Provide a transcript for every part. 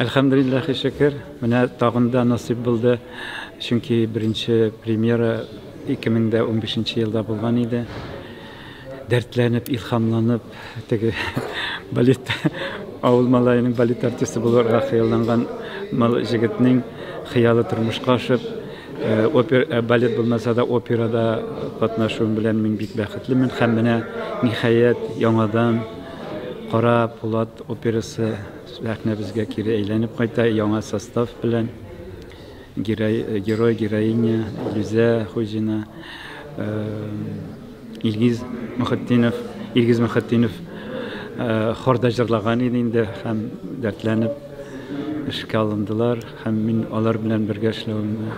Әлхәмдулиллахи шөкер, менә тагын да насыйп булды. Чөнки беренче премьера 2015 елда булган иде. Дәртләнеп, илхамланып, теге балет авыл малаеның балет артисты булырга хыялланган мал җегетнең хыялы тормышка ашып, э, опер э, балет булмаса да операда катнашуым белән мин бик бәхетлемен һәм менә ниһаять яңадан Кара Пулат операсы Сәхнәбезгә кире әйләнеп кайта яңа состав белән. Герой, героиня Илүзә Хуҗина, Илгиз Мөхетдинов, Илгиз Мөхетдинов хорда җырлаган иде инде һәм дәртләнеп эшкә алындылар һәм мин алар белән бергә эшләвемне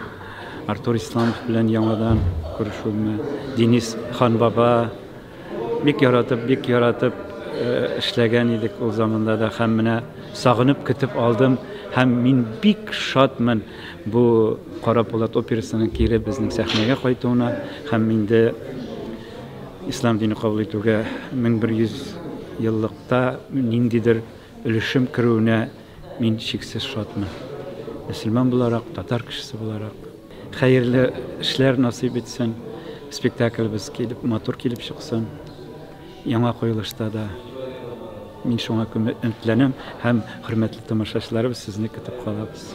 Артур Исламов белән яңадан күрешүемне Денис Ханбаба Бик яратып, бик яратып э, эшләгән идек ул заманда да һәм менә сагынып көтеп алдым һәм мин бик шатмын бу Кара Пулат операсының кире безнең сәхнәгә кайтуына һәм инде ислам дине кабул итүгә 1100 еллыкта ниндидер өлешем керүенә мин чиксез шатмын. Мөселман буларак, татар кешесе буларак. Хәерле эшләр насыйп итсен. Спектаклебез килеп, матур килеп чыксын. Яңа куелышта да мин шуңа өметләнәм һәм хөрмәтле тамашачыларыбыз сезне көтеп калабыз.